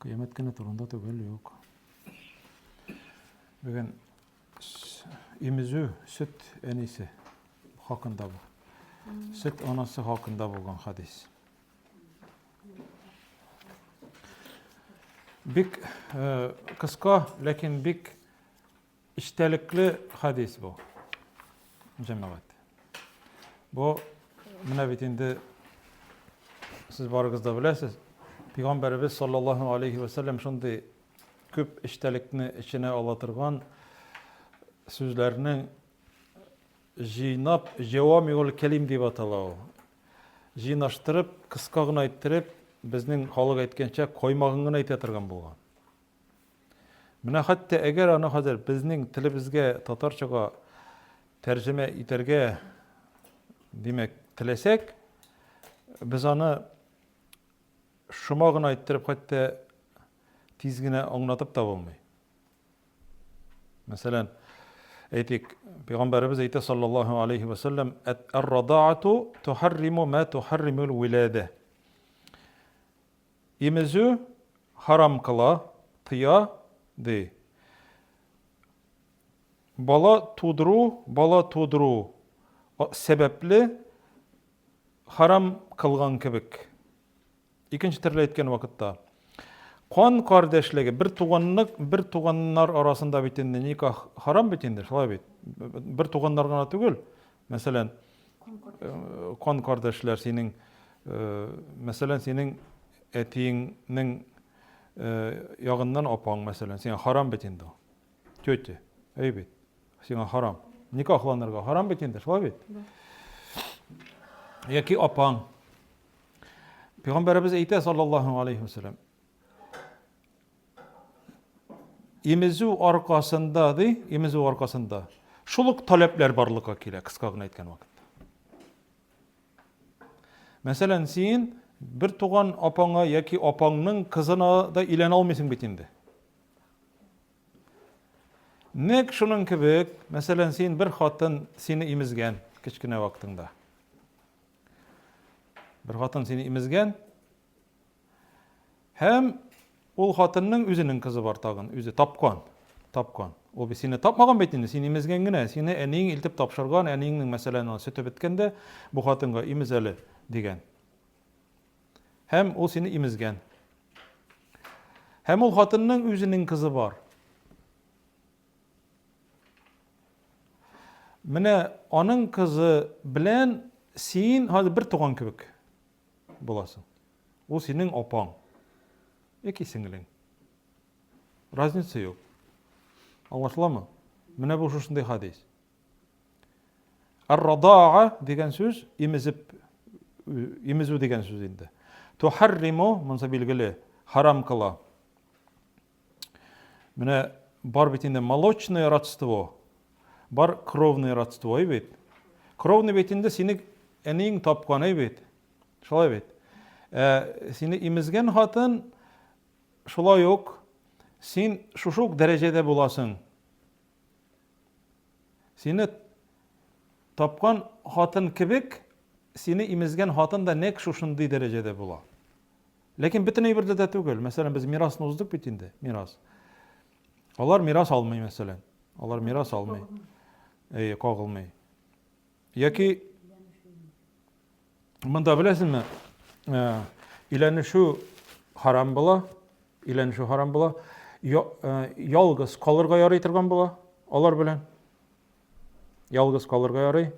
Кыямәт көне турында түгел юк. Бүген имезү сөт әнисе хакында бу. Сөт анасы хакында булган хадис. Бик э, кыска, ләкин бик Эчтәлекле хадис бу, җәмәгать. Бу менә бит инде сез барыгыз да беләсез, Пәйгамбәребез саллаллаһу алейхи ва саллям шундый күп эчтәлекне эченә ала торган сүзләрнең җыйнап җавамиул кәлим дип атала ул. Җыйнаштырып, кыска гына әйттереп, безнең халык әйткәнчә, коймагын гына әйтә торган булган. Менә хәтта әгәр аны хәзер безнең телебезгә татарчага тәрҗемә итәргә, димәк, теләсәк, без аны шома гына иттереп хәтта тиз генә аңлатып та булмый. Мәсәлән, әйтик, пәйгамбәребез әйтә саллаллаһу алейхи ва саллям, "Ар-радаату тухарриму ма тухарримул вилада". Имезү харам кыла, тыя, ди. Бала тудыру, бала тудыру сәбәпле харам кылган кебек. Икенче төрле әйткән вакытта. Кан кардәшлеге, бер туганлык, бер туганнар арасында бит инде никах харам бит инде, шулай бит. Бер туганнар гына түгел, Мәсәлән, кан кардәшләр синең, мәсәлән, синең әтиеңнең ягыннан апаң, мәсәлән, сиңа харам бит инде ул. Тетя, әй бит, сиңа харам. Никахланырга харам бит инде, шулай бит? Яки апаң. Пәйгамбәребез әйтә, саллаллаһу алейхи ва саллям, Имезү аркасында, ди, имезү аркасында. Шул ук таләпләр барлыкка килә, кыска гына әйткән вакытта. Мәсәлән, син бер туган апаңа яки апаңның кызына да илән алмыйсың бит инде. Нәк шуның кебек, мәсәлән, син бер хатын сине имезгән кечкенә вакытыңда. Бер хатын сине имезгән, Һәм ул хатынның үзенең кызы бар тагын, үзе тапкан. Тапкан. Ул бит сине тапмаган бит инде, син имезгән генә, сине әниең илтеп тапшырган, әниеңнең мәсәлән аны сөте беткәндә, бу хатынга имез әле дигән. Һәм ул сине имезгән. Һәм ул хатынның үзенең кызы бар. Менә аның кызы белән син хәзер бер туган кебек. Буласың. Ул синең апаң. Яки сеңлең. Разница юк. Аңлашыламы? Менә бу шушындый хадис. Ар-радаа дигән сүз имезеп имезү дигән сүз инде. Тухарриму, монсы билгеле, харам кыла. Менә бар бит инде молочное родство, бар кровное родство, әй бит. Кровный бит инде сине әниең тапкан, әй бит. Шулай бит. Ә сине имезгән хатын шулай ук син шушы ук дәрәҗәдә буласың. Сине тапкан хатын кебек сине имезгән хатын да нәкъ шушындый дәрәҗәдә була. Ләкин бөтен әйбердә дә түгел. Мәсәлән, без мирасны уздык бит инде, мирас. Алар мирас алмый, мәсәлән. Алар мирас алмый. Әйе, кагылмый. Яки монда беләсезме, э, иләнешү харам була, иләнешү харам була. Э, ялгыз калырга ярый торган була алар белән. Ялгыз калырга ярый.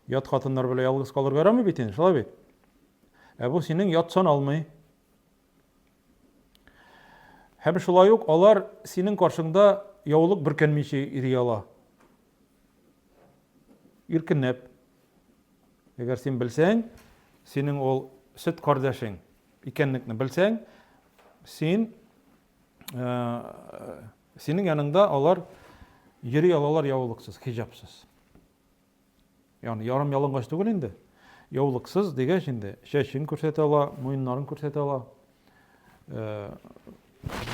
Ят хатыннар белән ялгыз калырга ярамый бит инде, шулай бит? Ә бу синең ят саналмый. Һәм шулай ук алар синең каршыңда яулык бөркәнмичә йөри ала. Иркенләп. Әгәр син белсәң, синең ул сөт кардәшең икәнлекне белсәң, син э, Синең яныңда алар йөри алалар яулыксыз, хиҗабсыз. Ягъни ярым ялангач түгел инде. Яулыксыз дигәч инде, чәчен күрсәтә ала, муеннарын күрсәтә ала, э,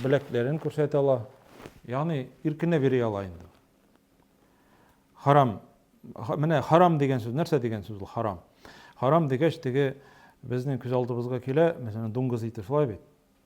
беләкләрен күрсәтә ала. Ягъни иркенә бери ала инде. Харам. Менә харам дигән сүз нәрсә дигән сүз ул харам? Харам дигәч теге безнең күз алдыбызга килә, мәсәлән, дуңгыз ите шулай бит.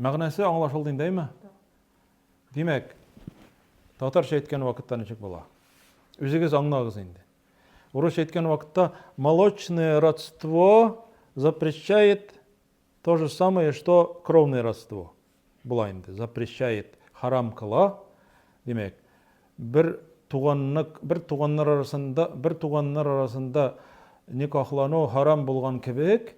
Мәгънәсе аңлашылды инде, әйме? Димәк, татарча әйткән вакытта ничек була? Үзегез аңлагыз инде. Урысча әйткән вакытта молочное родство запрещает то же самое, что кровное родство. Була инде, запрещает, харам кыла. Димәк, бер туганлык, бер туганнар арасында, бер туганнар арасында никахлану харам булган кебек,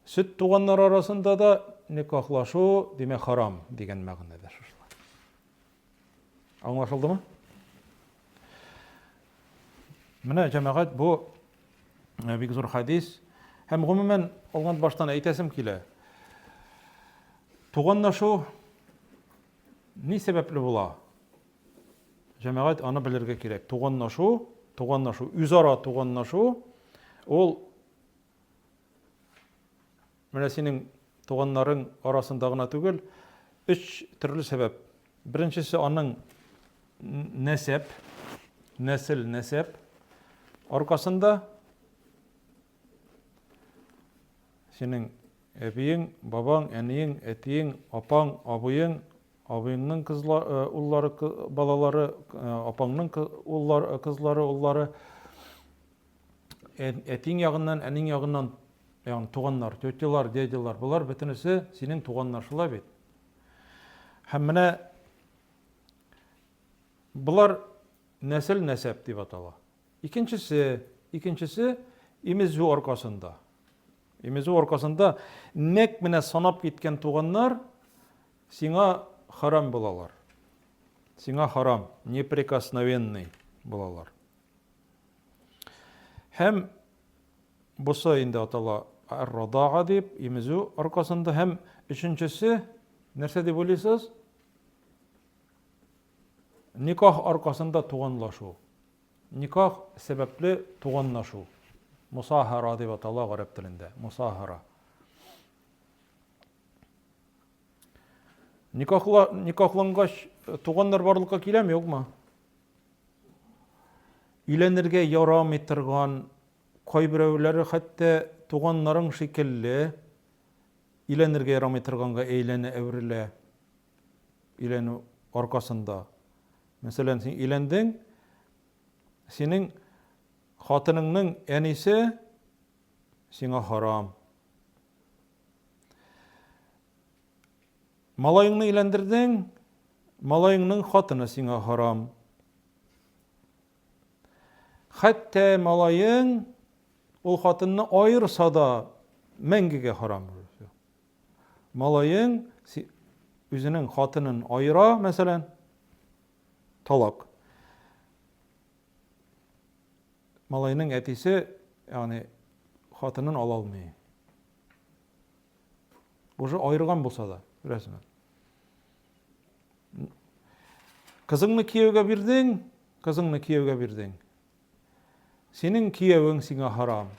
Сөт туганнар арасында да никахлашу, димәк, харам дигән мәгънәдә шушылар. Аңлашылдымы? Менә җәмәгать бу э, бик зур хадис һәм гомумән алган баштан әйтәсем килә. Туганнашу ни сәбәпле була? Җәмәгать аны белергә кирәк. Туганнашу, туганнашу, үзара туганнашу ул Менә синең туганнарың арасында гына түгел, өч төрле сәбәп. Беренчесе аның нәсәп, нәсел, нәсәп аркасында синең әбиең, бабаң, әниең, әтиең, апаң, абыең, абыеңның кызла, э, уллары, балалары, э, апаңның уллары, кызлары, уллары. Әтиң ягыннан, әниң ягыннан, ягъни туганнар, тетялар, дядялар, болар бөтенесе синең туганнар, шулай бит? Һәм менә болар нәсел нәсәп дип атала. Икенчесе, икенчесе имезү аркасында. Имезү аркасында нәк менә санап киткән туганнар сиңа харам булалар. Сиңа харам, неприкосновенный булалар. Һәм бусы инде атала ар-радага дип, имезү аркасында һәм өченчесе нәрсә дип уйлыйсыз? Никах аркасында туганлашу. Никах сәбәпле туганлашу. Мусахара дип атала гарәп телендә. Мусахара. Никахлангач туганнар барлыкка киләме, юкмы? Өйләнергә ярамый торган, кайберәүләре хәтта туганнарың шикелле өйләнергә ярамый торганга әйләнә, әверелә өйләнү аркасында. Мәсәлән, син өйләндең, синең хатыныңның әнисе сиңа харам. Малаеңны өйләндердең, малаеңның хатыны сиңа харам. Хәтта малаең ул хатынны аерса да мәңгегә харам. Малаең үзенең хатынын аера, мәсәлән, талак. Малайның әтисе, ягъни хатынын ала алмый. Уже аерган булса да, күрәсеңме? Кызыңны кияүгә бирдең, кызыңны кияүгә бирдең. Синең кияүең сиңа харам.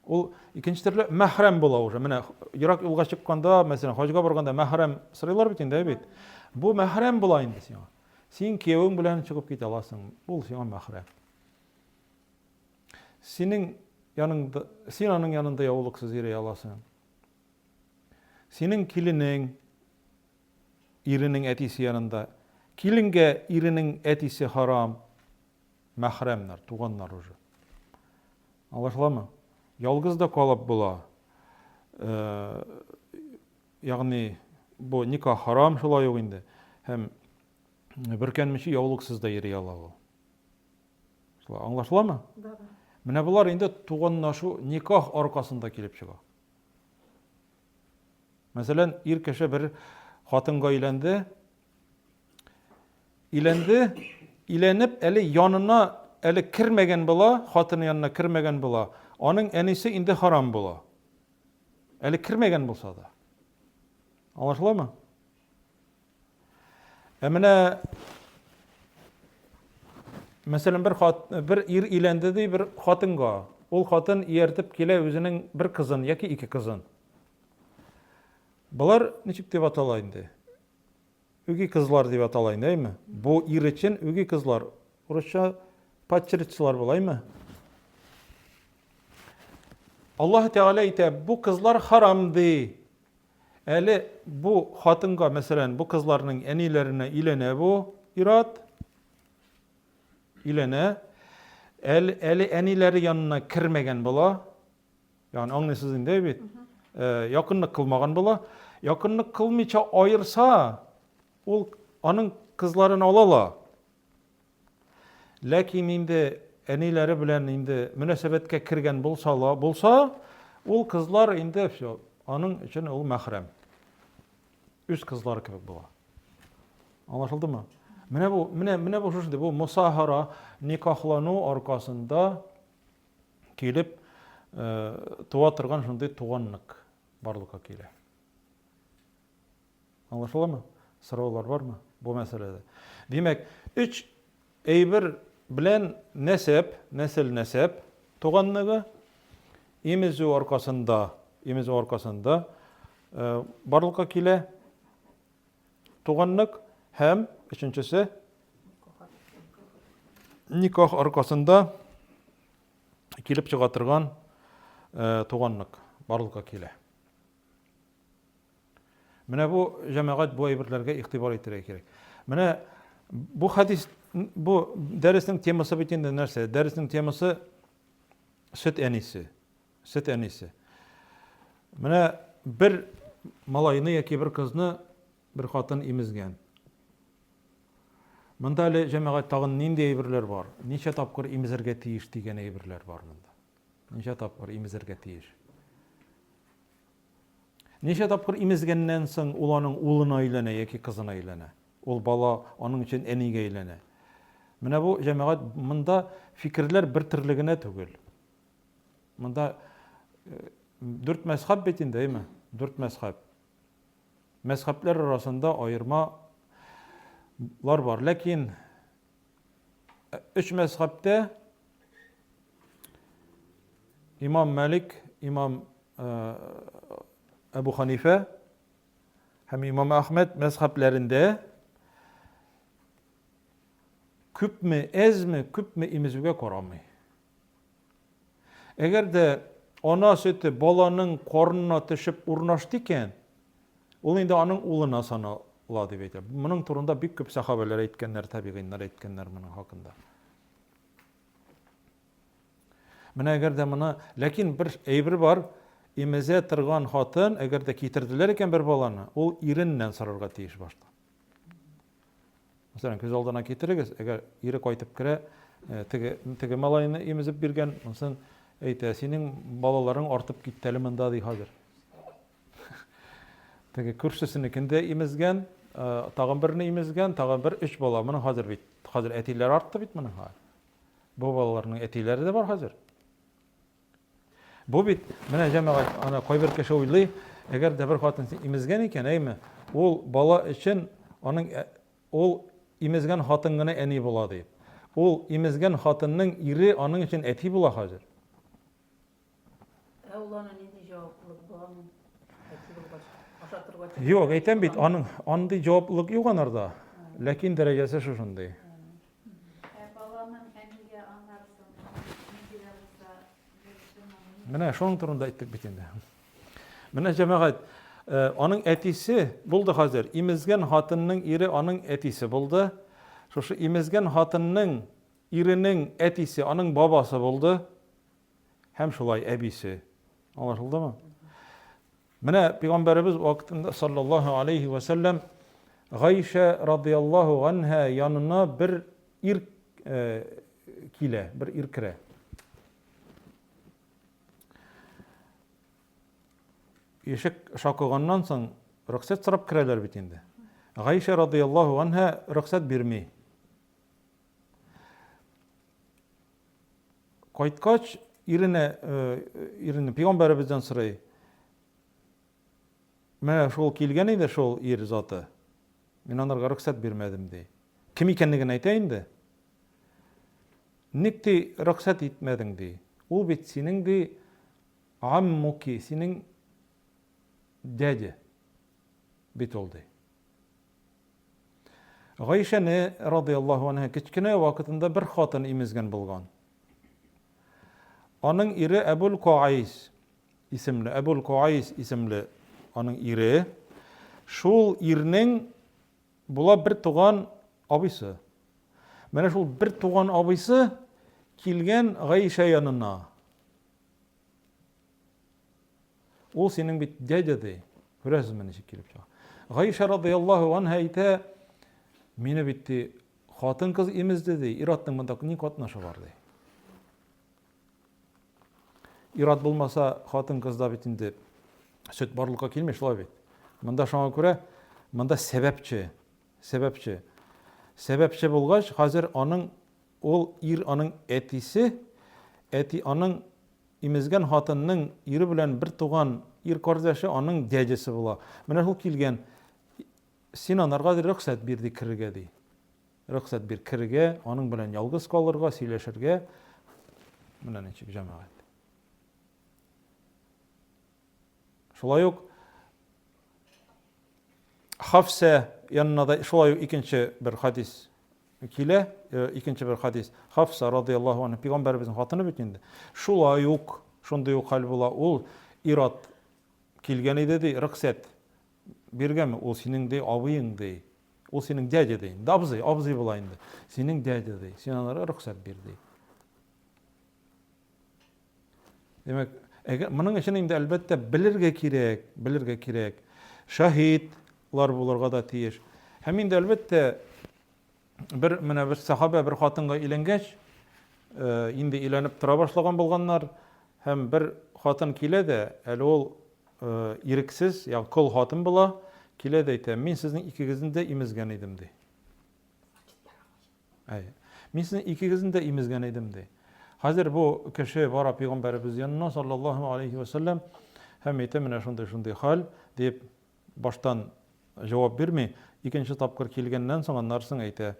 Ул икенче төрле мәхрәм була уже. Менә ерак юлга чыкканда, мәсәлән, хаҗга барганда мәхрәм сырыйлар бит инде, бит. Бу мәхрәм була инде сиңа. Син кияүең белән чыгып китә аласың. Ул сиңа мәхрәм. Синең яныңда, син аның янында яулыксыз йөри аласың. Синең киленең, иренең әтисе янында. Киленгә иренең әтисе харам, мәхрәмнәр, туганнар уже. Аңлашыламы? Ялгыз да калып була. Э, ягъни бу ника харам шулай ук инде. Һәм бөркәнмичә яулыксыз да йөри ала ул. Шулай аңлашыламы? Да, да. Менә болар инде туганнашу, никах аркасында килеп чыга. Мәсәлән, ир кеше бер хатынга өйләнде. Өйләнде, өйләнеп, әле янына әле кермәгән була, хатыны янына кермәгән була. Аның әнисе инде харам була. Әле кермәгән булса да. Аңлашыламы? Ә менә мәсәлән бер хат бер ир өйләнде ди бер хатынга. Ул хатын ияртеп килә үзенең бер кызын яки ике кызын. Болар ничек дип атала инде? Үги кызлар дип атала инде, әйме? Бу ир өчен үги кызлар. Урысча падчеричлар була, әйме? Аллаһ Тәгалә әйтә, бу кызлар харам ди. Әле бу хатынга, мәсәлән, бу кызларның әниләренә өйләнә бу ир-ат. Өйләнә. Әле, әле әниләре янына кермәгән була. Ягъни аңлыйсыз инде бит. Э, якынлык кылмаган була. Якынлык кылмыйча аерса, ул аның кызларын ала ла. Ләкин инде әниләре белән инде мөнәсәбәткә кергән булса ла, булса, ул кызлар инде все, аның өчен ул мәхрәм. Үз кызлары кебек була. Аңлашылдымы? Менә бу, менә менә бу шушындый, бу мусахара, никахлану аркасында килеп э, туа торган шундый туганлык барлыкка килә. Аңлашыламы? Сораулар бармы бу мәсьәләдә? Димәк, өч әйбер белән нәсәп, нәсел-нәсәп туганлыгы имезү аркасында, имезү аркасында барлыкка килә туганлык һәм өченчесе никах аркасында килеп чыга торган туганлык барлыкка килә. Менә бу җәмәгать бу әйберләргә игътибар итәргә кирәк. Менә бу хадис бу дәреснең темасы бит инде нәрсә? Дәреснең темасы сөт әнисе. Сөт әнисе. Менә бер малайны яки бер кызны бер хатын имезгән. Монда әле җәмәгать тагын нинди әйберләр бар? Ничә тапкыр имезергә тиеш дигән әйберләр бар монда. Ничә тапкыр имезергә тиеш? Ничә тапкыр имезгәннән соң ул аның улына өйләнә яки кызына өйләнә? Ул бала аның өчен әнигә өйләнә. Менә бу, җәмәгать, монда фикерләр бер төрле генә түгел. Монда дүрт мәзхәб бит инде, әйме? Дүрт мәзхәб. Мәзхәбләр арасында аермалар бар, ләкин Өч мәзхәбтә имам Мәлик, имам Әбу Ханифә һәм имам Әхмәд мәзхәбләрендә күпме, әзме, күпме имезүгә карамый. Әгәр дә ана сөте баланың карынына төшеп урнашты икән, ул инде аның улына санала дип әйтә. Моның турында бик күп сахабәләр әйткәннәр, табигыйннар әйткәннәр моның хакында. Менә әгәр дә моны, ләкин бер әйбер бар, имезә торган хатын, әгәр дә китерделәр икән бер баланы, ул иреннән сорарга тиеш башта. Мәсәлән, күз алдына китерегез, әгәр ире кайтып керә, теге, теге малайны имезеп биргән, онсын әйтә, синең балаларың артып китте әле монда, ди хәзер. Теге күршесенекен дә имезгән, тагын берне имезгән, тагын бер өч бала. Моның хәзер бит, хәзер әтиләр артты бит моның хәзер. Бу балаларның әтиләре дә бар хәзер. Бу бит, менә җәмәгать, ана кайбер кеше уйлый, әгәр дә бер хатын имезгән икән, әйме, ул бала өчен аның ә, ул имезгән хатын гына әни була дип. Ул имезгән хатынның ире аның өчен әти була хәзер. Ә ул аны нинди җаваплылык була аны әти булгач, ашатырга тиеш. Юк, әйтәм бит, аның андый җаваплылык юк анарда. Ләкин дәрәҗәсе шушындый. Ә баланың әнигә аңарсың, ни кирәк булса, Менә шуның турында әйттек бит инде. Менә җәмәгать, э, аның әтисе булды хәзер. Имезгән хатынның ире аның әтисе булды. Шушы имезгән хатынның иренең әтисе аның бабасы булды. Һәм шулай әбисе. Аңлашылдымы? Менә пәйгамбәребез вакытында саллаллаһу алейһи вә сәлләм Гайшә радияллаһу ганһа янына бер ир э, килә, бер ир керә. Ишек шакыганнан соң рөхсәт сорап керәләр бит инде. Гайшә радияллаһу ганһа рөхсәт бирми. Кайткач, иренә, э, иренә пигамбәребездән сорый. Менә шул килгән иде шул ир заты. Мин анарга рөхсәт бирмәдем ди. Кем икәнлеген әйтә инде. Ник ди рөхсәт итмәдең ди. Ул бит синең ди аммуки, синең дядя бит ул ди. Гайшәне радыяллаһу анһа кечкенә вакытында бер хатын имезгән булган. Аның ире Әбул Куайс исемле, Әбул Куайс исемле аның ире. Шул ирнең була бер туган абыйсы. Менә шул бер туган абыйсы килгән Гайшә янына. Ул синең бит дядя ди. Күрәсезме ничек килеп чыга. Гаиша радыяллаһу анһа әйтә, мине бит ди хатын-кыз имезде ди, ир-атның монда ни катнашы бар ди. Ир-ат булмаса хатын-кызда бит инде сөт барлыкка килми шулай бит. Монда шуңа күрә монда сәбәпче Сәбәпче. Сәбәпче булгач, хәзер аның ул ир аның әтисе, әти аның имезгән хатынның ире белән бер туган ир кардәше аның дядясы була. Менә шул килгән, син анарга рөхсәт бир ди керергә ди. Рөхсәт бир керергә, аның белән ялгыз калырга, сөйләшергә. Менә ничек җәмәгать. Шулай ук Хафсә янына да шулай ук икенче бер хадис килә, икенче бер хадис. Хафса радияллаһу анһа пәйгамбәребезнең хатыны бит инде. Шулай ук шундый ук хәл була. Ул ират килгән иде ди, рөхсәт биргәнме? Ул синең ди абыең ди. Ул синең дядя ди. Инде абзый, абзый була инде. Синең дядя ди. Син аңа рөхсәт бир ди. Димәк, әгәр моның өчен инде әлбәттә белергә кирәк, белергә кирәк. Шаһитлар булырга да тиеш. Һәм инде әлбәттә бер менә бер сахабә бер хатынга өйләнгәч, э, инде өйләнеп тора башлаган булганнар һәм бер хатын килә дә, әле ул э, ирексез, ягъни кол хатын була, килә дә әйтә, мин сезнең икегезне дә имезгән идем ди. Әйе. Мин сезнең икегезне дә имезгән идем, ди. Хәзер бу кеше бара пигамбәребез янына, саллаллаһу алейһи вә сәлләм, һәм әйтә, менә шундый-шундый хәл, дип, баштан җавап бирми, икенче тапкыр килгәннән соң аннарсын әйтә.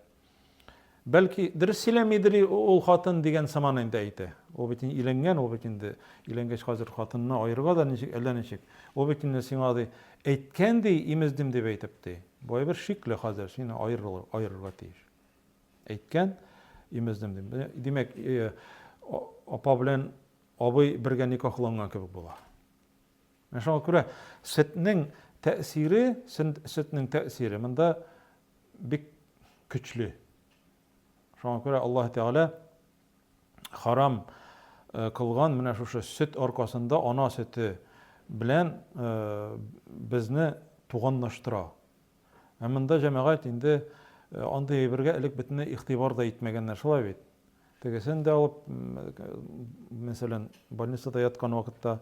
Бәлки, дөрес сөйләмидер ул хатын дигән сыман инде әйтә. Ул бит инде өйләнгән, ул бит инде өйләнгәч хәзер хатынны аерырга да ничек, әллә ничек. Ул бит инде сиңа, ди, Әйткән ди, имездем дип әйтеп ди. Бу әйбер шикле хәзер, сине аерырга тиеш. Әйткән, имездем дип. Димәк, апа белән абый бергә никахланган кебек була. Менә шуңа күрә сөтнең тәэсире, сөтнең тәэсире монда бик көчле. Шуңа күрә Аллаһ Тәгалә харам кылган менә шушы сөт аркасында ана сөте белән безне туганлаштыра. Ә монда җәмәгать инде андый әйбергә элек бөтенләй игътибар да итмәгәннәр, шулай бит. Тегесен дә алып, мәсәлән, больницада яткан вакытта,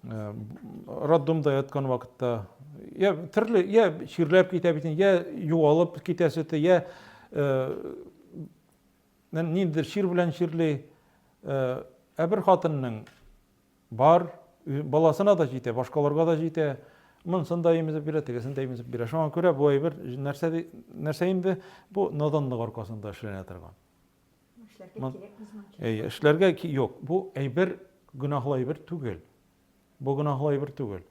роддомда яткан вакытта, я төрле, я чирләп китә бит, я югалып китә сөте, я Ниндидер чир белән чирли. Ә бер хатынның бар, баласына да җитә, башкаларга да җитә. Монсын да имезеп бирә, тегесен дә имезеп бирә. Шуңа күрә бу әйбер нәрсә, нәрсә инде? Бу наданлык аркасында эшләнә торган. Эшләргә кирәк. Эшләргә юк. Бу әйбер гөнаһлы әйбер түгел. Бу гөнаһлы әйбер түгел.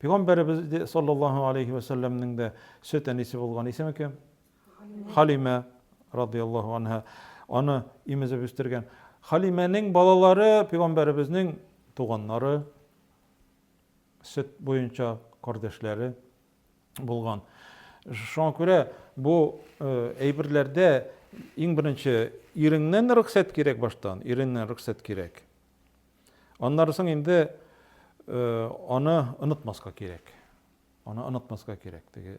Пәйгамбәребез саллаллаһу алейхи вәсәлләмнең дә сөт әнисе булган исеме кем? Халимә, радыяллаһу анһа, аны имезеп үстергән. Халимәнең балалары пигамбәребезнең туганнары, сөт буенча кардәшләре булган. Шуңа күрә бу э, әйберләрдә иң беренче иреңнән рөхсәт кирәк баштан, иреңнән рөхсәт кирәк. Аннары соң инде э, аны онытмаска кирәк. Аны онытмаска кирәк. Теге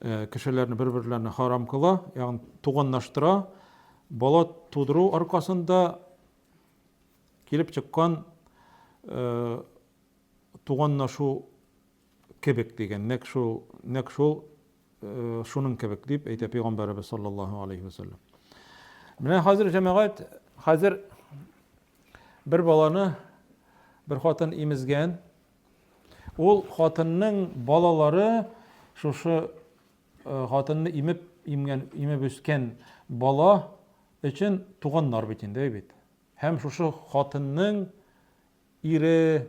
э, кешеләрне бер-берләренә харам кыла, ягъни туганлаштыра. Бала тудыру аркасында килеп чыккан э, туганлашу кебек дигән, нәк шул, нәк шул э, шуның кебек дип әйтә пәйгамбәребез саллаллаһу алейхи вәсәлләм. Менә хәзер җәмәгать, хәзер бер баланы бер хатын имезгән, Ул хатынның балалары шушы хатынны имеп имгән, имеп үскән бала өчен туганнар бит инде, бит. Һәм шушы хатынның ире,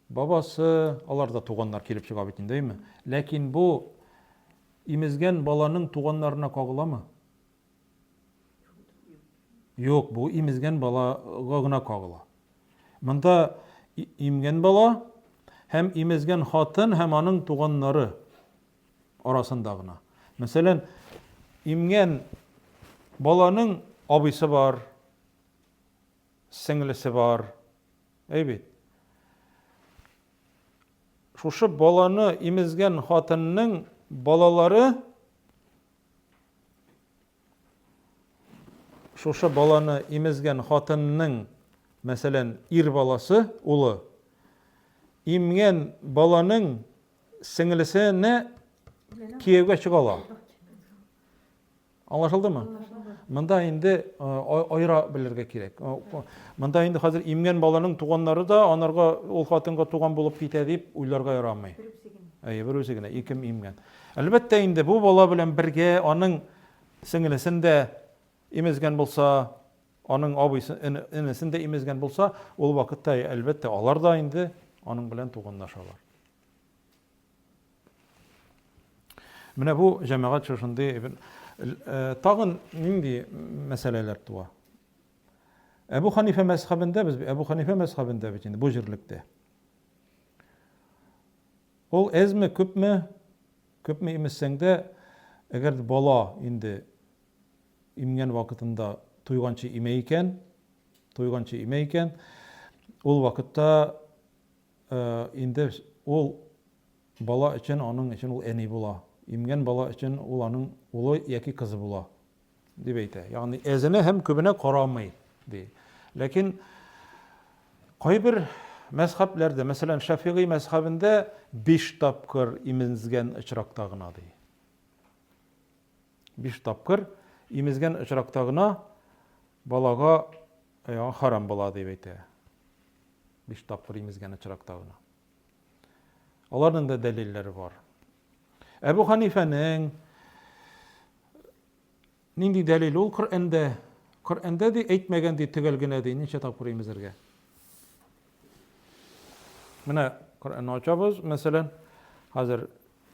бабасы, алар да туганнар килеп чыга бит инде, әйме? Ләкин бу имезгән баланың туганнарына кагыламы? Юк, бу имезгән балага гына кагыла. Монда имгән бала һәм имезгән хатын һәм аның туганнары арасында гына. Мәсәлән, имгән баланың абыйсы бар, сеңлесе бар. Әйбит. Шушы баланы имезгән хатынның балалары Шушы баланы имезгән хатынның, мәсәлән, ир баласы, улы, имгән баланың сеңлесенә кияүгә чыга ала. Аңлашылдымы? Монда инде айра белергә кирәк. Монда инде хәзер имгән баланың туганнары да анарга ул хатынга туган булып китә дип уйларга ярамый. Әйе, бер үзе генә икем имгән. Әлбәттә инде, бу бала белән бергә аның сеңлесен дә имезгән булса, аның абыйсын, энесен дә имезгән булса, ул вакытта, әлбәттә, алар да инде аның белән туганлашалар. Менә бу җәмәгать шушындый э, тагын нинди мәсьәләләр туа? Әбу Ханифә мәзхәбендә без Әбу Ханифә мәзхәбендә бит инде бу җирлектә. Ул әзме, күпме? Күпме имезсәң дә, әгәр дә бала инде имгән вакытында туйганчы имә икән, туйганчы имә икән, ул вакытта инде ул бала өчен, аның өчен ул әни була. Имгән бала өчен ул аның улы яки кызы була. Дип әйтә. Ягъни әзенә һәм күбенә карамый, ди. Ләкин кайбер мәзхәбләрдә, мәсәлән, Шәфигый мәзхәбендә биш тапкыр имезгән очракта гына, ди. Биш тапкыр имезгән очракта гына балага э, харам була дип әйтә. Биш тапкыр имезгән очракта гына. Аларның да дәлилләре бар. Әбү Ханифәнең нинди дәлил ул Коръәндә? Коръәндә ди әйтмәгән ди төгәл генә ди ничә тапкыр имезергә. Менә Коръәнне ачабыз, мәсәлән, хәзер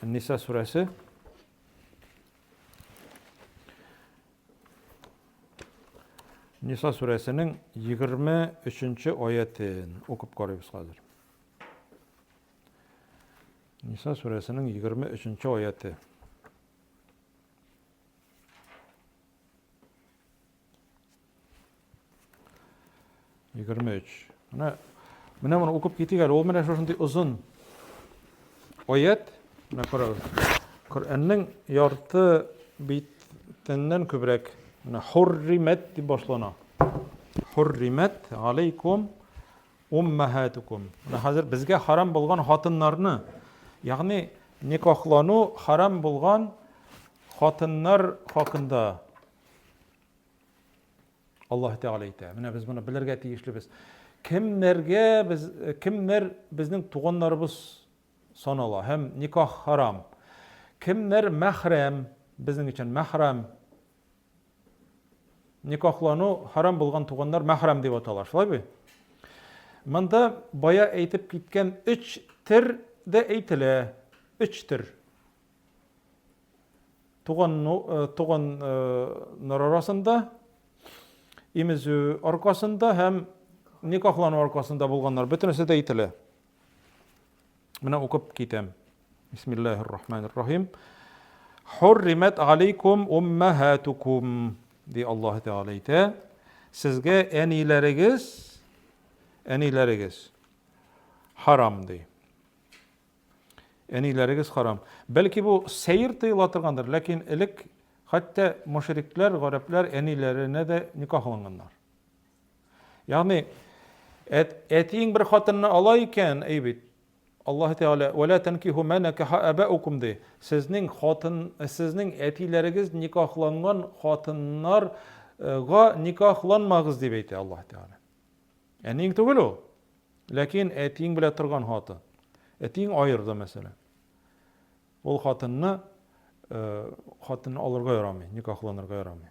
Ниса сүрәсе. Ниса сүрәсенең 23-нче аятен укып карыйбыз хәзер. Ниса сүрәсенең 23-нче аяте. Егерме өч. Менә менә моны укып китик әле. Ул менә шушындый озын аят. Менә карагыз. Коръәннең ярты битеннән күбрәк менә хурримат дип башлана. Хурримат алейкум Уммәһәтүкүм. Менә хәзер безгә харам булган хатыннарны, ягъни никахлану харам булган хатыннар хакында Аллаһ Тәгалә әйтә. Менә без моны белергә тиешлебез. Кемнәргә без кемнәр безнең туганнарыбыз санала һәм никах харам. Кемнәр мәхрәм, безнең өчен мәхрәм Никахлану харам булган туганнар мәхрәм дип атала, шулай бит? Монда бая әйтеп киткән өч төр дә әйтелә. Өч төр. Туганнар арасында, имезү аркасында һәм никахлану аркасында булганнар, бөтенесе дә әйтелә. Менә укып китәм. Бисмиллаһир рахманир рахим. Хурримат алейкум уммахатукум ди Аллаһ Тәгалә әйтә. Сезгә әниләрегез, әниләрегез харам ди. Әниләрегез харам. Бәлки бу сәер тыела торгандыр, ләкин элек хәтта мушриклар, гарәпләр әниләренә дә никахланганнар. Ягъни әтиең бер хатынны ала икән, әй бит. Аллаһ Тәгалә вәлә танкиху ма накаха абаукум ди. Сезнең хатын, сезнең әтиләрегез никахланган хатыннарга никахланмагыз дип әйтә Аллаһ Тәгалә. Әниең түгел ул. Ләкин әтиең белә торган хатын. Әтиең аерды мәсәлән. Ул хатынны э, хатынны алырга ярамый, никахланырга ярамый.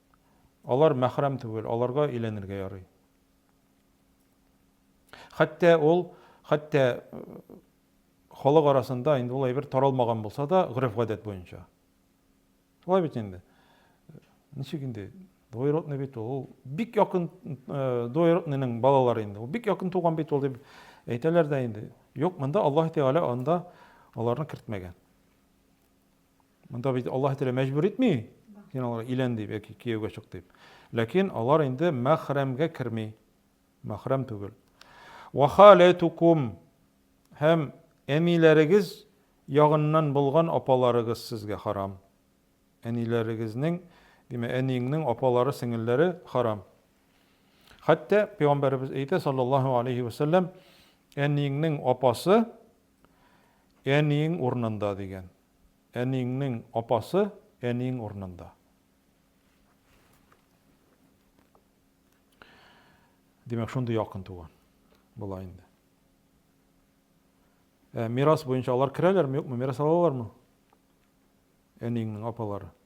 Алар мәхрәм түгел, аларга өйләнергә ярый. Хәтта ул, хәтта халык арасында инде ул әйбер таралмаган булса да, гореф-гадәт буенча. Шулай бит инде. Ничек инде? Двоюродный бит ул. Бик якын э, двоюродныйның балалары инде. Ул бик якын туган бит ул дип әйтәләр дә инде. Юк, монда Аллаһ Тәгалә анда аларны кертмәгән. Монда бит Аллаһ Тәгалә мәҗбүр итми, син аларга илән дип яки кияүгә чык дип. Ләкин алар инде мәхрәмгә керми. Мәхрәм түгел. Ва халатукум һәм әниләрегез ягыннан булган апаларыгыз сезгә харам. Әниләрегезнең, димәк, әниеңнең апалары, сеңелләре харам. Хәтта пәйгамбәребез әйтә саллаллаһу алейхи ва саллям, әниеңнең апасы Әниең урынында дигән. Әниеңнең апасы әниең урынында. Димәк, шундый якын туган була инде. Ә мирас буенча алар керәләрме, юкмы, мирас алалармы? Әниеңнең апалары.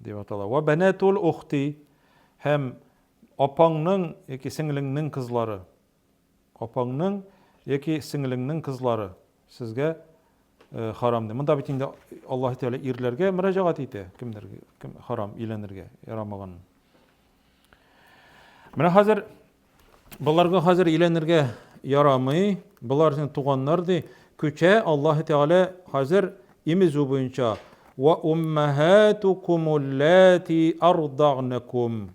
Дип атала. Вә бәнәтул ухти, һәм апаңның яки сеңлеңнең кызлары. Апаңның яки сеңлеңнең кызлары сезгә харам ди. Монда бит инде Аллаһ Тәгалә ирләргә мөрәҗәгать итә, кемдер кем харам өйләнергә ярамаганын. Менә хәзер Боларга хәзер өйләнергә ярамый, болар син туганнар ди. Күчә Аллаһ Тәгалә хәзер имезү буенча ва уммахатукум уллати ардагнакум.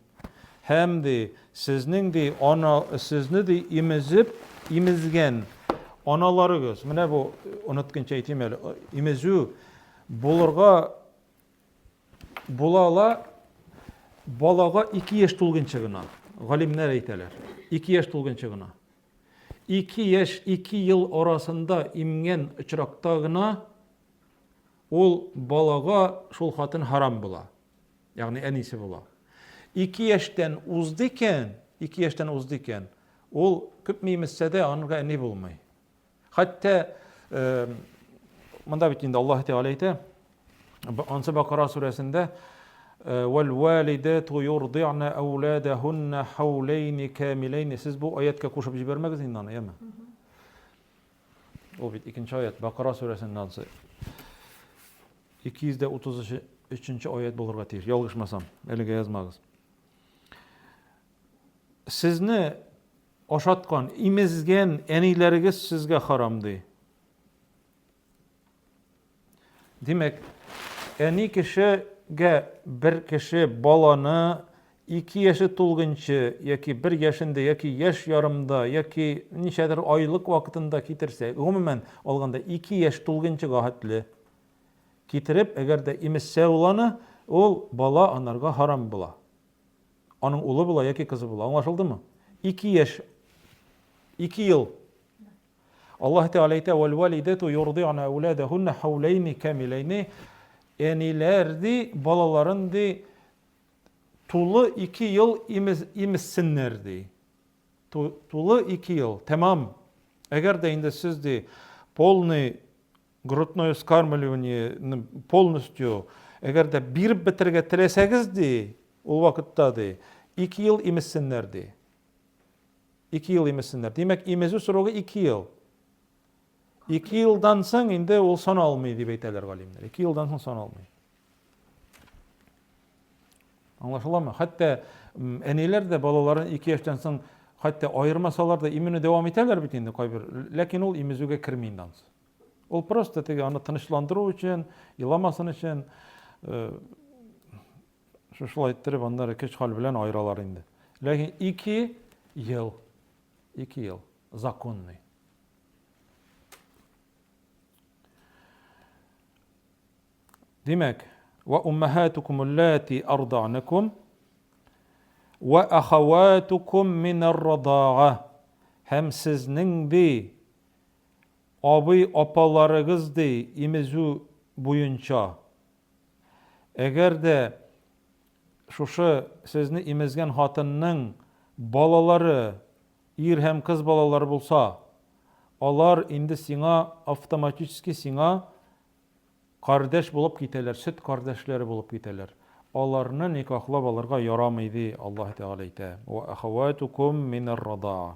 Һәм ди, сезнең ди ана сезне ди имезеп, имезгән аналарыгыз. Менә бу онытканча әйтим әле. Имезү булырга Була ала, балага ике яшь тулгынчы гына, галимнәр әйтәләр, ике яшь тулгынчы гына. Ике яшь, ике ел арасында имген очракта гына ул балага шул хатын харам була. Ягъни әнисе була. Ике яшьтән узды икән, ике яшьтән узды икән, ул күпме имезсә дә, аңа әни булмый. Хәтта монда бит инде Аллаһ Тәгалә әйтә, Ансы Бакара сүрәсендә вәл-валидату юрди'на ауладахунна хаулейни камилейни. Сез бу аятка кушып җибәрмәгез инде аны, яме. Ул бит икенче аят, Бакара сүрәсендә ансы. 233 аят булырга тиеш, ялгышмасам, әлегә язмагыз. Сезне Ашаткан, имезгән әниләрегез сезгә харам, ди. Димәк, әни кешегә бер кеше баланы ике яше тулгынчы яки бер яшендә яки яш ярымда яки ничәдер айлык вакытында китерсә, гомумән алганда ике яш тулгынчыга хәтле китереп, әгәр дә имезсә ул аны, ул бала анарга харам була. Аның улы була яки кызы була. Аңлашылдымы? Ике яшь, ике ел. Аллаһ Тәгалә әйтә, «Вәл-вәлидәту йорди'на әүләдәһунна хәүләйни камиләйни». Әниләр ди, балаларын ди, тулы ике ел имез, имезсеннәр ди. Тулы ике ел, тәмам. Әгәр дә инде сез ди, полный Грудное вскармливаниене полностью, әгәр дә биреп бетерергә теләсәгез, ди, ул вакытта, ди, ике ел имезсеннәр, ди. Ике ел имезсеннәр. Димәк, имезү срогы ике ел. Ике елдан соң инде ул сан алмый, дип әйтәләр галимнәр. Ике елдан соң сан алмый. Аңлашыламы? Хәтта әниләр дә балаларын ике яшьтән соң хәтта аермасалар да имени дәвам итәләр бит инде кайбер. Ләкин ул имезүгә керми инде ансы. Ул просто теге аны тынычландыру өчен, еламасын өчен шушылай иттереп аннары көч-хәл белән аералар инде. Ләкин ике ел, ике ел законный. Димәк, ва уммахатукум аллати арданакум ва ахаватукум минар радага һәм сезнең ди Абый-апаларыгыз ди имезү буенча. Әгәр дә шушы сезне имезгән хатынның балалары, ир һәм кыз балалары булса, алар инде сиңа автоматически сиңа кардәш булып китәләр, сөт кардәшләре булып китәләр. Аларны никахлап алырга ярамый ди Аллаһ Тәгалә әйтә, Вә әхәвәтүкүм минәр радаа.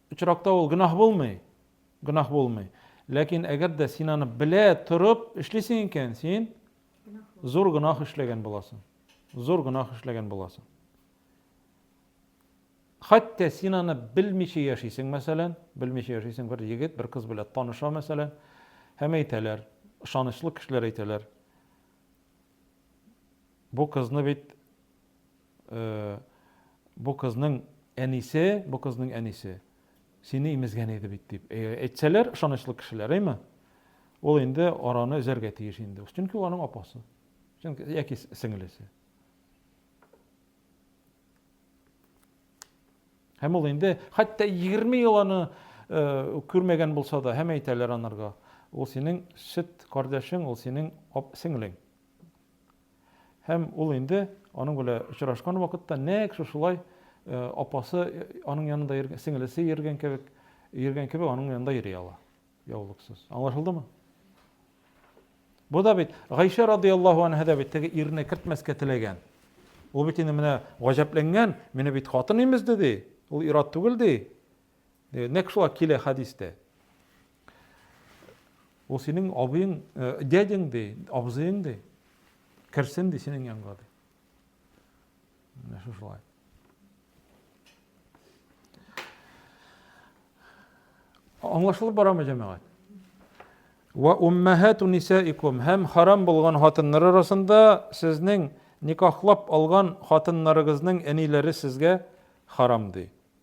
Очракта ул гөнаһ булмый, гөнаһ булмый. Ләкин әгәр дә син аны белә торып эшлисең икән, син зур гөнаһ эшләгән буласың. Зур гөнаһ эшләгән буласың. Хәтта син аны белмичә яшисең, мәсәлән, белмичә яшисең бер егет, бер кыз белән таныша, мәсәлән, һәм әйтәләр, ышанычлы кешеләр әйтәләр. Бу кызны бит Бу кызның әнисе, бу кызның әнисе сине имезгән иде бит дип әйтсәләр, ышанычлы кешеләр, әйме? Ул инде араны өзәргә тиеш инде. Чөнки аның апасы. Чөнки яки сеңлесе. Һәм ул инде хәтта 20 ел аны күрмәгән булса да, һәм әйтәләр анарга, ул синең сөт кардәшең, ул синең сеңлең. Һәм ул инде аның белә очрашкан вакытта нәкъ шушылай апасы аның янында йөргән, сеңелесе йөргән кебек, йөргән кебек аның янында йөри ала. Яулыксыз. Аңлашылдымы? Бу да бит Гайшә радиаллаһу анһа да бит теге ирне кертмәскә теләгән. Ул бит инде менә гаҗәпләнгән, мине бит хатын имезде ди. Ул ират түгел ди. Э, нәкъ шулай килә хәдистә. Ул синең абыең, э, дядяң ди, абзыең ди. Керсен ди синең янга ди. Менә шулай. Аңлашылып барамы, җәмәгать? Ва уммахату нисаикум һәм харам булган хатыннар арасында сезнең никахлап алган хатыннарыгызның әниләре сезгә харам ди.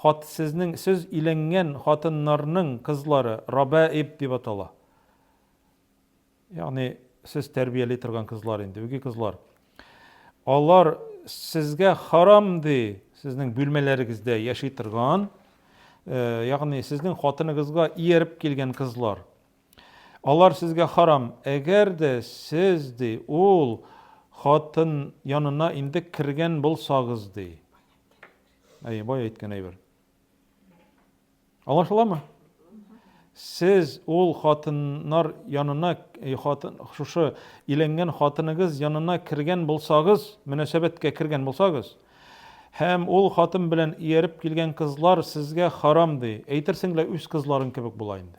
Хат сезнең сез иләнгән хатыннарның кызлары рабаиб дип атала. Ягъни сез тәрбияли торган кызлар инде, үги кызлар. Алар сезгә харам ди, сезнең бүлмәләрегездә яши торган, э, ягъни сезнең хатыныгызга ияреп килгән кызлар. Алар сезгә харам, әгәр дә сез ди ул хатын янына инде кергән булсагыз ди. Әйе, бай әйткән әйбер. Аңлашыламы? Сез ул хатыннар янына, э, хатын, шушы иленгән хатыныгыз янына кергән булсагыз, мөнәсәбәткә кергән булсагыз, һәм ул хатын белән ияреп килгән кызлар сезгә харам ди, әйтерсең лә үз кызларың кебек була инде.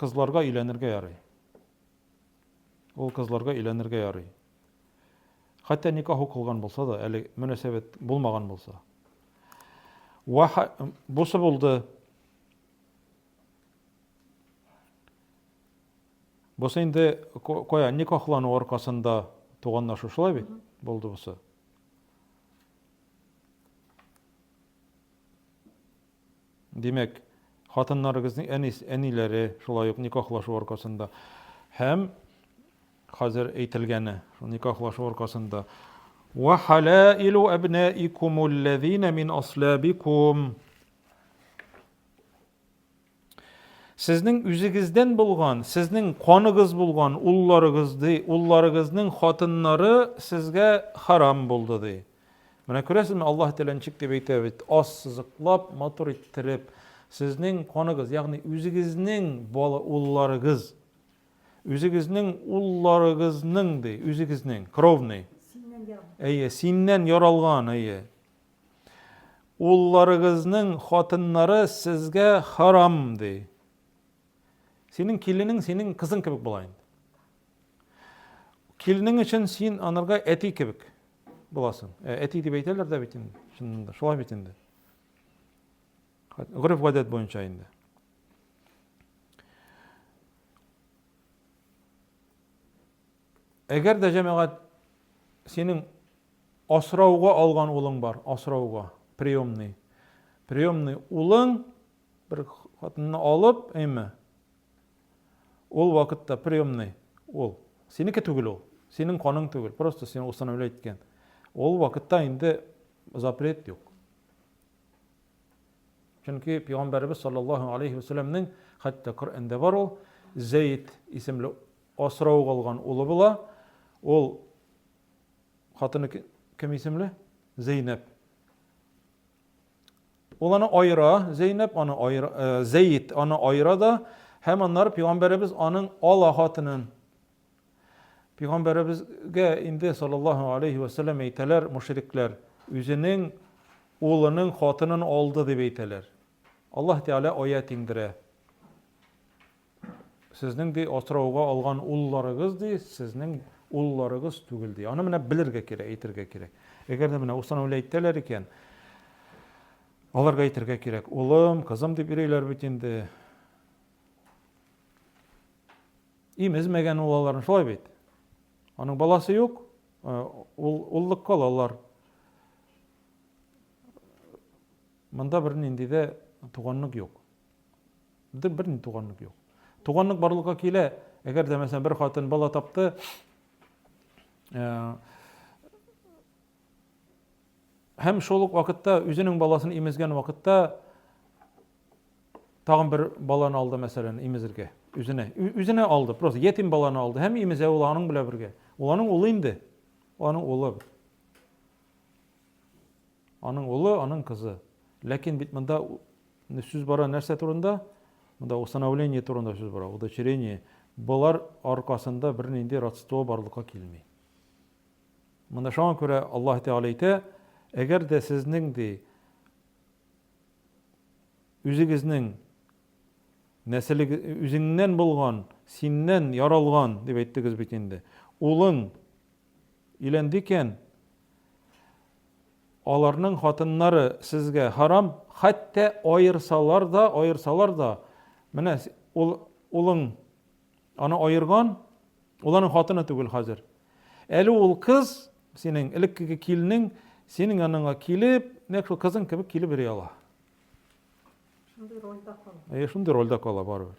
кызларга өйләнергә ярый. Ул кызларга өйләнергә ярый. Хәтта никах укылган булса да, әле мөнәсәбәт булмаган булса. Ва бусы булды. Бусы инде кая никахлану аркасында туганнашу шулай бит? Булды бусы. Димәк, хатыннарыгызның әнис, әниләре, шулай ук никахлашу аркасында һәм хәзер әйтелгәне, шул никахлашу аркасында. Ва халаилу абнаикум аллазина мин аслабикум. Сезнең үзегездән булган, сезнең каныгыз булган улларыгыз ди, улларыгызның хатыннары сезгә харам булды ди. Менә күрәсезме, Аллаһ теләнчек дип әйтә бит, аз сызыклап, матур иттереп, сезнең каныгыз, ягъни үзегезнең бала улларыгыз, үзегезнең улларыгызның ди, үзегезнең, кровный. Әйе, синнән яралган, әйе. Улларыгызның хатыннары сезгә харам ди. Синең киленең, синең кызың кебек була инде. Килнең өчен син анырга әти кебек буласың. Ә, әти дип әйтәләр дә бит инде, чыннан да, шулай бит инде. Гөреф гадәт буенча инде. Әгәр дә җәмәгать синең асрауга алган улың бар, асрауга, приемный. Приемный улың бер хатынны алып, әйме, Ул вакытта приемный ул. Синеке түгел ул. Синең каның түгел. Просто сине усыновлять иткән. Ул вакытта инде запрет юк. Чөнки пәйгамбәребез саллаллаһу алейхи ва саллямның хәтта Коръәндә бар ул Зәйд исемле асрау алган улы була. Ул хатыны кем исемле? Зәйнәб. Ул аны аера, Зәйнәб аны аера, э, Зәйд аны аера да, һәм аннары пәйгамбәребез аның ала хатынын Пәйгамбәребезгә инде саллаллаһу алейхи ва саллям әйтәләр мушрикләр, үзенең улының хатынын алды дип әйтәләр. Аллаһ Тәгалә аят иңдерә. Сезнең, ди, асрауга алган улларыгыз, ди, сезнең улларыгыз түгел, ди. Аны менә белергә кирәк, әйтергә кирәк. Әгәр дә менә Усман Вәли әйтәләр икән, аларга әйтергә кирәк. Улым, кызым дип йөриләр бит инде. Имезмәгән ул аларны, шулай бит. Аның баласы юк, э, ул уллык калалар. Монда бер нинди дә туганлык юк. Бер ни туганлык юк. Туганлык барлыкка килә, әгәр дә мәсәлән бер хатын бала тапты, һәм шул ук вакытта үзенең баласын имезгән вакытта тагын бер баланы алды мәсәлән имезергә үзенә үзенә алды просто ятим баланы алды һәм имезә ул аның белән бергә ул аның улы инде аның улы Аның улы, аның кызы. Ләкин бит монда сүз бара нәрсә турында? Монда усыновление турында сүз бара, удочерение. Болар аркасында бернинди родство барлыкка килми. Монда шуңа күрә Аллаһ Тәгалә әйтә, әгәр дә сезнең ди үзегезнең нәселег үзеңнән булган, синнән яралган дип әйттегез бит инде. Улың Өйләндекән, аларның хатыннары сезгә харам, хәтта аерсалар да, аерсалар да, менә ул улың аны аерган, ул аның хатыны түгел хәзер. Әле ул кыз, синең элеккеге килнең, синең яныңа килеп, нәкъ шул кызың кебек килеп йөри ала. Шундый рольдә кала. Э, шундый рольдә кала барыбер.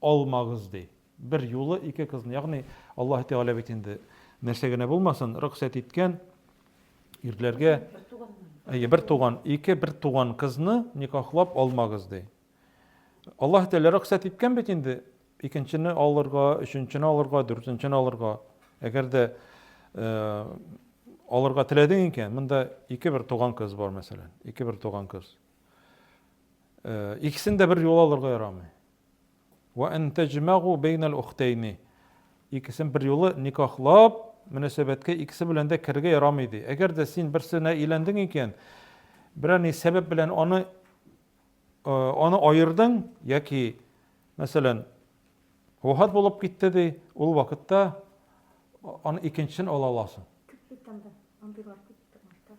алмагыз, ди. Бер юлы ике кызны, ягъни Аллаһы Тәгалә бит инде нәрсә генә булмасын, рөхсәт иткән ирләргә әйе, бер туган, ике бер туган кызны никахлап алмагыз, ди. Аллаһы Тәгалә рөхсәт иткән бит инде икенчене алырга, өченчене алырга, дүртенчене алырга. Әгәр дә э, алырга теләдең икән, монда ике бер туган кыз бар, мәсәлән, ике бер туган кыз. Э, икесен дә бер юл алырга ярамый. Вә ән тәҗмәгу бәйнәл ухтәйни. Икесен берьюлы никахлап, мөнәсәбәткә икесе белән дә керергә ярамый, ди. Әгәр дә син берсенә өйләндең икән, берәр ни сәбәп белән аны аны аердың яки, мәсәлән, вафат булып китте, ди, ул вакытта аны икенчесен ала аласың. Күп бит анда, андыйлар күп тормышта.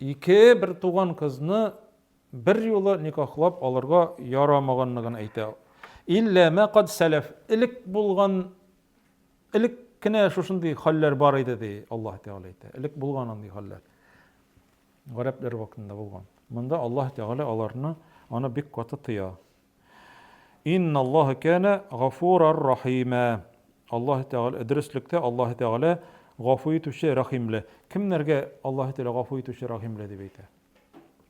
Ике бертуган кызны берьюлы никахлап алырга ярамаганлыгын әйтә. Иллә мә кад сәләф, элек булган, элек кенә шушындый хәлләр бар иде, ди Аллаһ Тәгалә әйтә. Элек булган андый хәлләр. Гарәпләр вакытында булган. Монда Аллаһ Тәгалә аларны аны бик каты тыя. Инналлаһа кәнә гафурар рахимә. Аллаһы Тәгалә, дөреслектә Аллаһы Тәгалә гафу итүче, рәхимле. Кемнәргә Аллаһы Тәгалә гафу итүче, рәхимле дип әйтә?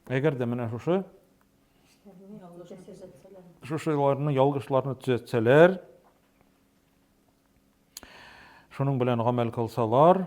Әгәр дә менә шушы шушыларны ялгышларны төзәтсәләр, шуның белән гамәл кылсалар,